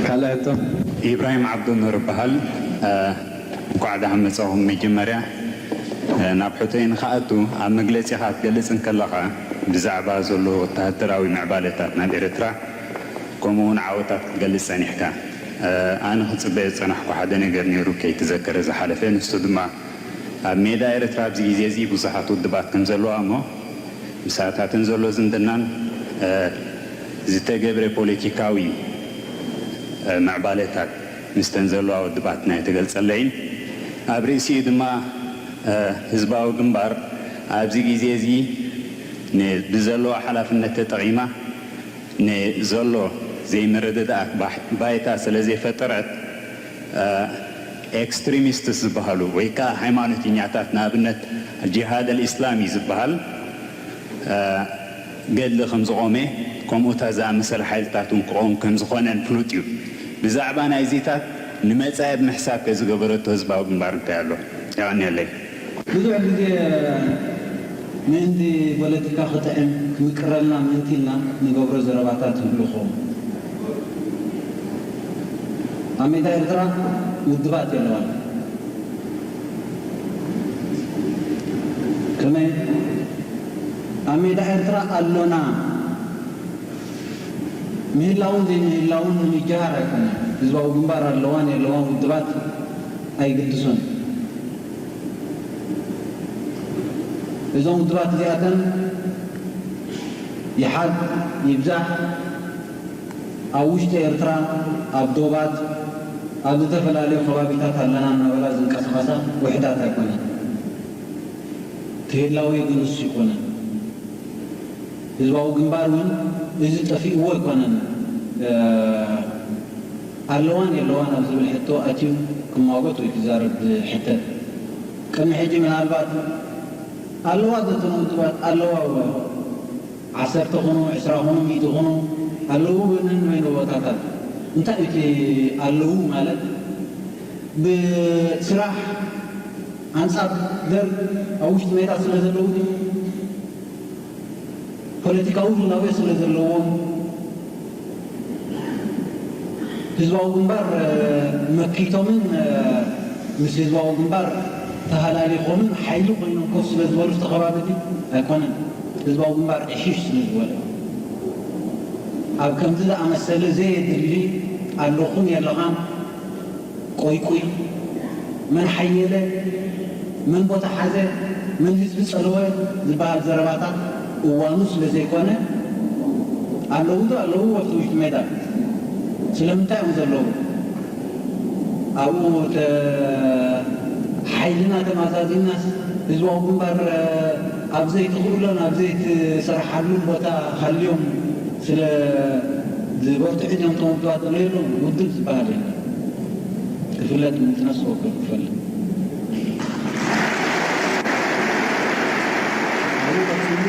ካልኣቶም ኢብራሂም ዓብዱ ኑር እባሃል እንኳዕ ዳሓን መፃኹም መጀመርያ ናብ ሕቶይ ንክኣቱ ኣብ መግለፂኻ ክትገልፅ እንከለኻ ብዛዕባ ዘሎ ወታሃደራዊ ምዕባለታት ናብ ኤርትራ ከምኡ እውን ዓወታት ክትገልፅ ፀኒሕካ ኣነ ክፅበዮ ዝፀናሕኩ ሓደ ነገር ነይሩ ከይተዘከረ ዝሓለፈ ንሱ ድማ ኣብ ሜዳ ኤርትራ ኣብዚ ግዜ እዚ ብዙሓት ውድባት ከምዘለዋ እሞ ምሳታትን ዘሎ ዝምድናን ዝተገብረ ፖለቲካዊ ምዕባለታት ምስተን ዘለዋ ውድባትና የተገልጸለ ኢዩ። ኣብ ርእሲኡ ድማ ህዝባዊ ግንባር ኣብዚ ግዜ እዚ ብዘለዋ ሓላፍነት ተጠቒማ ንዘሎ ዘይምርድዳኣት ባይታ ስለዘይፈጠረት፣ ኤክስትሪሚስትስ ዝበሃሉ ወይ ከኣ ሃይማኖተኛታት ንኣብነት ጂሃድ ኣልኢስላሚ ዝበሃል ገድሊ ከም ዝቖመ ከምኡታ ዝኣመሰለ ሓይልታት እውን ክቖም ከም ዝኾነን ፍሉጥ እዩ። ብዛዕባ ናይዚታት ንመጻኢ ብምሕሳብ ከ ዝገበረቶ ህዝባዊ ግንባር እንታይ ኣሎ? የቐንየለይ። ብዙሕ ግዜ ምእንቲ ፖለቲካ ክጥዕም ክምቅረልና ምእንቲ ኢልና ንገብሮ ዘረባታት ይህሉ ክኸውን እዩ። ኣብ ሜዳ ኤርትራ ውድባት የለዋን። ከመይ ኣብ ሜዳ ኤርትራ ኣሎና ምህላውን ዘይምህላውን ንምጅሃር ኣይኮነን። ህዝባዊ ግንባር ኣለዋን የለዋን ውድባት ኣይግድሶን እዩ። እዞም ውድባት እዚኣተን ይሓድ ይብዛሕ ኣብ ውሽጢ ኤርትራ ኣብ ዶባት ኣብ ዝተፈላለዩ ከባቢታት ኣለና እናበላ ዝንቀሳቐሳ ውሕዳት ኣይኮናን። እቲ ህላዌ ግን እሱ ኣይኮነን። ህዝባዊ ግንባር እውን እዚ ጠፊኡዎ ኣይኮነን። ኣለዋን የለዋን ኣብ ዝብል ሕቶ ኣትዩ ክሟጎት ወይ ክዛረብ ዝሕተት ቅድሚ ሕጂ ምናልባት ኣለዋ ዘተን ውድባት ኣለዋ እወ ዓሰርተ ኩኑ ዕስራ ኩኑ ሚእቲ ኩኑ ኣለዉ ወንን ወይነ ቦታታት እንታይ እዩ እቲ ኣለዉ ማለት ብስራሕ ኣንጻር ደርግ ኣብ ውሽጢ ሜዳ ስለ ዘለዉ ድዩ ፖለቲካዊ ህላዌ ስለ ዘለዎም፣ ህዝባዊ ግንባር መኪቶምን ምስ ህዝባዊ ግንባር ተሃላሊኾምን ሓይሊ ኮይኖም ኮፍ ስለ ዝበሉ እቲ ከባቢ እቲ ኣይኮነን ህዝባዊ ግንባር ዕሽሽ ስለ ዝበለ ኣብ ከምዚ ዝኣመሰለ ዘየድሊ ኣለኹን የለኻን ቆይቊይ መን ሓየለ፣ መን ቦታ ሓዘ፣ መን ህዝቢ ጸለወ ዝበሃል ዘረባታት እዋኑ ስለ ዘይኮነ፣ ኣለዉ'ዶ ኣለዉ ወፍቲ ውሽጢ ሜዳ? ስለምንታይ እዮም ዘለዉ? ኣብኡ ሓይልና ተማዛዚናስ ህዝባዊ ግንባር ኣብ ዘይትኽእሎን ኣብ ዘይትሰርሓሉን ቦታ ሃልዮም፣ ስለ ዝበርትዑ እቶም ተወንጨዋት ዝለይሉ ውድብ ዝበሃል የለን ክፍለጥ ንነፍሲ ወከፍ ክፈልጥ። ኣብኡ ቀጺሉ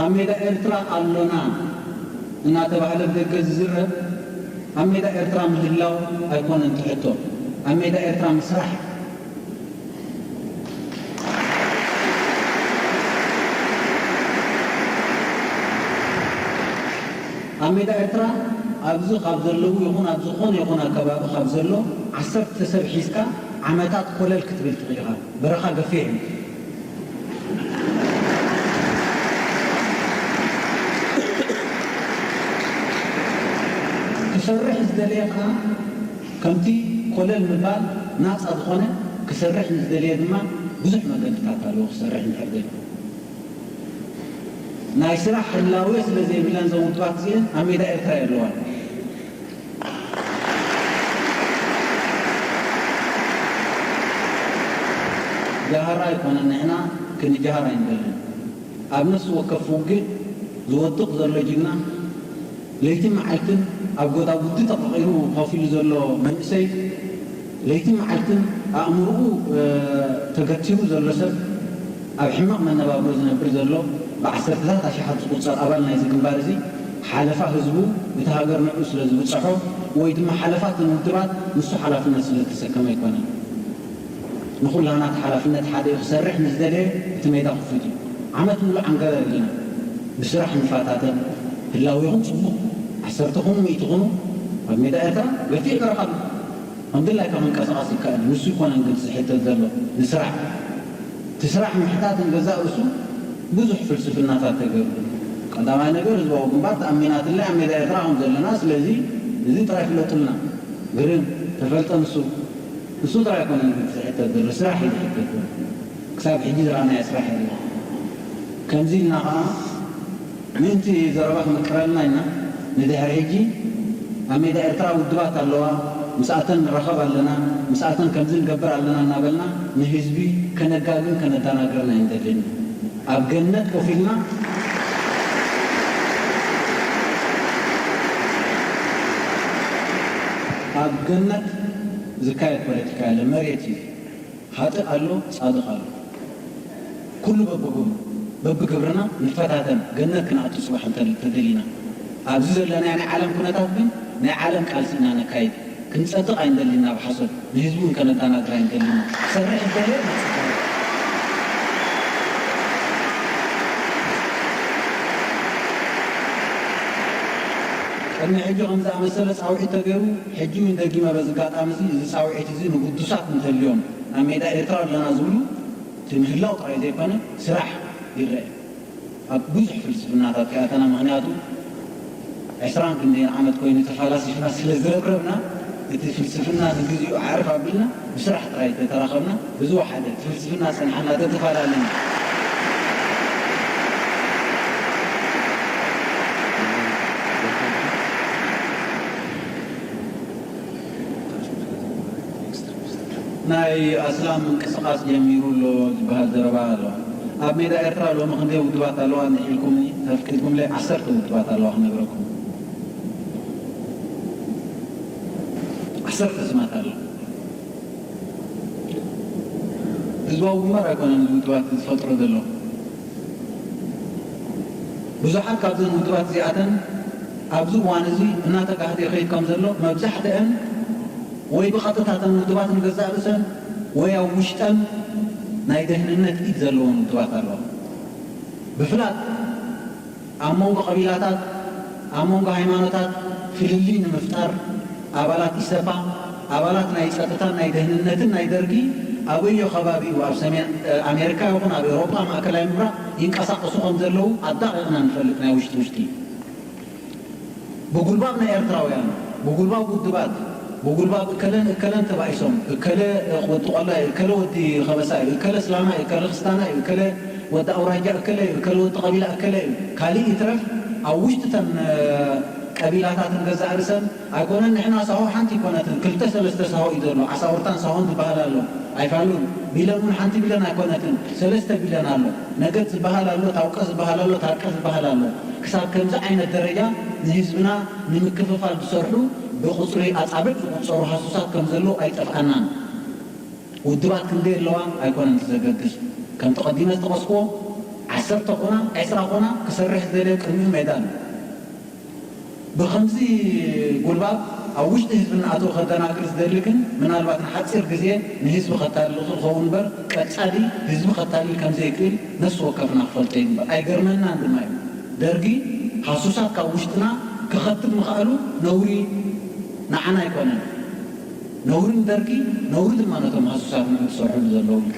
ኣብ ሜዳ ኤርትራ ኣሎና እናተባህለ ብደገ ዝዝረብ ኣብ ሜዳ ኤርትራ ምህላው ኣይኮነን እቲ ሕቶ ኣብ ሜዳ ኤርትራ ምስራሕ፣ ኣብ ሜዳ ኤርትራ ኣብዚ ካብ ዘለዉ ይኹን ኣብ ዝኾነ ይኹን ኣከባቢ ካብ ዘሎ ዓሰርተ ሰብ ሒዝካ ዓመታት ኮለል ክትብል ትኽእል ኢኻ። በረኻ ገፊሕ እዩ። ክሰርሕ ዝደለየ ከኣ፣ ከምቲ ኮለል ምባል ናጻ ዝኾነ ክሰርሕ ንዝደለየ ድማ ብዙሕ መንገድታት ኣለዎ ክሰርሕ እንድሕር ደልዩ። ናይ ስራሕ ሕላዌ ስለ ዘይብለን እዘን ውድባት እዚኤን ኣብ ሜዳ ኤርትራ የለዋን። ጃሃራ ኣይኮነን ንሕና ክንጃሃር ኣይንደልን። ኣብ ነፍሲ ወከፍ ውግእ ዝወድቕ ዘሎ ጅግና፣ ለይትን መዓልትን ኣብ ጎዳጉዲ ተቐቒሩ ኮፍ ኢሉ ዘሎ መንእሰይ፣ ለይትን መዓልትን ኣእምርኡ ተገቲሩ ዘሎ ሰብ፣ ኣብ ሕማቕ መነባብሮ ዝነብር ዘሎ ብዓሰርተታት ኣሽሓት ዝቑጸር ኣባል ናይዚ ግንባር እዚ፣ ሓለፋ ህዝቡ እቲ ሃገር ንዕኡ ስለ ዝብጸሖ ወይ ድማ ሓለፋ እተን ውድባት ንሱ ሓላፍነት ስለ ዝተሰከመ ኣይኮነን። ንኹላና እቲ ሓላፍነት ሓደ'ዩ ክሰርሕ ንዝደለየ እቲ ሜዳ ክፉት እዩ ዓመት ምሉእ ዓንገበር እንዲና ብስራሕ ንፋታተን ህላዌኹም ጽቡቕ ዓሰርተ ኩኑ ሚእቲ ኩኑ ኣብ ሜዳ ኤርትራ ገፊሕ በረኻ ኣሎ ከም ድላይካ ክንቀሳቐስ ይካኣል እዩ ንሱ ኣይኮነን ግልጺ ዝሕተት ዘሎ ንስራሕ እቲ ስራሕ ምሕታት ንገዛእ ርእሱ ብዙሕ ፍልስፍናታት ተገርሉ ቀዳማይ ነገር ህዝባዊ ግንባር ተኣሚናትለይ ኣብ ሜዳ ኤርትራ ከም ዘለና ስለዚ እዚ ጥራይ ፍለጡልና ግርም ተፈልጠ ንሱ ንሱ ጥራይ ኣይኮነን ግን ዝሕተት ዘሎ ስራሕ እዩ ዝሕተት ዘሎ ክሳብ ሕጂ ዝረኣናዮ ስራሕ የለን ከምዚ ኢልና ከኣ ምእንቲ ዘረባ ክምቅረልና ኢልና ንድሕሪ ሕጂ ኣብ ሜዳ ኤርትራ ውድባት ኣለዋ ምስኣተን ንራኸብ ኣለና ምስኣተን ከምዚ ንገብር ኣለና እናበልና ንህዝቢ ከነጋግን ከነዳናግርን ኣይንደልን ኢና። ኣብ ገነት ኮፍ ኢልና ኣብ ገነት ዝካየድ ፖለቲካ የለን መሬት እዩ ኻጥእ ኣሎ ፃድቅ ኣሎ ኩሉ በብጎኑ በብግብርና ንፈታተን ገነት ክነኣቱ ፅባሕ እንተደሊና ኣብዚ ዘለናዮ ናይ ዓለም ኩነታት ግን ናይ ዓለም ቃልሲ ኢና ነካይድ ክንጸድቕ ኣይንደልን ኢና ብሓሶት ንህዝቢ ውን ከነዳናግር ኣይንደልን ኢና ክሰርሕ ዝደለየ ንጽድቕ ኢና። ቅድሚ ሕጂ ከምዚ ዝኣመሰለ ጻውዒት ተገይሩ ሕጂ ውን ደጊመ በዚ ኣጋጣሚ እዚ እዚ ጻውዒት እዚ ንግዱሳት እንተልዮም ናብ ሜዳ ኤርትራ ኣለና ዝብሉ እቲ ምህላው ጥራይ ዘይኮነ ስራሕ ይረኤ ኣብ ብዙሕ ፍልስፍናታት ከያታና ምኽንያቱ ዕስራን ክንደይን ዓመት ኮይኑ እቲ ፋላሲፍና ስለ ዝረብረብና እቲ ፍልስፍና ንግዚኡ ኣዕርፍ ኣቢልና ብስራሕ ጥራይ ተተራኸብና ብዝወሓደ እቲ ፍልስፍና ጸንሓና ተተፈላለና ናይ ኣስላም ምንቅስቃስ ጀሚሩ ኣሎ ዝበሃል ዘረባ ኣሎ ኣብ ሜዳ ኤርትራ ሎሚ ክንደይ ውድባት ኣለዋ እንድሕ ኢልኩምኒ ተፍቂድኩምለይ ዓሰርተ ውድባት ኣለዋ ክነግረኩም ዓሰርተ ስማት ኣለዋ ህዝባዊ ግንባር ኣይኮነን እዚ ውድባት ዝፈጥሮ ዘሎ። ብዙሓት ካብዘን ውድባት እዚኣተን ኣብዚ እዋን እዚ እናተጋህደ ይኸይድ ከም ዘሎ መብዛሕትአን ወይ ብቐጥታ እተን ውድባት ንገዛእ ርእሰን ወይ ኣብ ውሽጠን ናይ ደህንነት ኢድ ዘለወን ውድባት ኣለዋ። ብፍላጥ። ኣብ መንጎ ቀቢላታት፣ ኣብ መንጎ ሃይማኖታት ፍልልይ ንምፍጣር ኣባላት ኢሰፓ፣ ኣባላት ናይ ጸጥታን ናይ ደህንነትን ናይ ደርጊ ኣበዮ ከባቢኡ ኣብ ሰሜን ኣሜርካ ይኹን ኣብ ኤውሮጳ ማእከላይ ምብራቕ ይንቀሳቐሱ ከምዘለዉ ኣዳቒቕና ንፈልጥ ናይ ውሽጢ ውሽጢ። ብጉልባብ ናይ ኤርትራውያን፣ ብጉልባብ ውድባት፣ ብጉልባብ እከለን እከለን ተባኢሶም፣ እከለ ወዲ ቆላይ፣ እከለ ወዲ ከበሳ'ዩ፣ እከለ ስላማ'ዩ፣ እከለ ክስታና'ዩ፣ እከለ ወዲ ኣውራጃ እከለ'ዩ፣ እከለ ወዲ ቀቢላ እከለ'ዩ፣ ካልእ ይትረፍ ኣብ ውሽጢ'ተን ቀቢላታትን ገዛእ ርእሰን ኣይኮነን ንሕና ሳሆ ሓንቲ ኣይኮነትን ክልተ ሰለስተ ሳሆ'ዩ ዘሎ፣ ዓሳውርታን ሳሆን ዝበሃል ኣሎ፣ ኣይፋሉን፣ ቢለን ውን ሓንቲ ቢለን ኣይኮነትን ሰለስተ ቢለን ኣሎ፣ ነገድ ዝበሃል ኣሎ፣ ታውቀ ዝበሃል ኣሎ፣ ታርቀ ዝበሃል ኣሎ። ክሳብ ከምዚ ዓይነት ደረጃ ንህዝብና ንምክፍፋል ዝሰርሑ ብቑጽሪ ኣጻብዕ ዝቑጸሩ ሃሱሳት ከም ዘለዉ ኣይጠፍኣናን። ውድባት ክንደይ ኣለዋ ኣይኮነን እቲ ዘገድስ። ከምቲ ቀዲመ ዝጠቐስክዎ ዓሰርተ ኮና ዕስራ ኮና ክሰርሕ ዝደልዮ ቅድሚኡ ሜዳ ኣሎ። ብኸምዚ ጉልባብ ኣብ ውሽጢ ህዝቢ እናኣተወ ከደናግር ዝደሊ ግን ምናልባት ንሓጺር ግዜ ንህዝቢ ከታልል ይኽእል ክኸውን እምበር ቀጻሊ ህዝቢ ከታልል ከም ዘይክእል ነፍሲ ወከፍና ክፈልጦ ይግባእ። ኣይገርመናን ድማ እዩ። ደርጊ ሃሱሳት ካብ ውሽጥና ከኸትብ ምኽኣሉ ነውሪ ንዓና ኣይኮነን። ነውሪ ንደርጊ፣ ነውሪ ድማ ነቶም ሃሱሳት ንዑ ትሰርሕሉ ዘለዉ እዩ።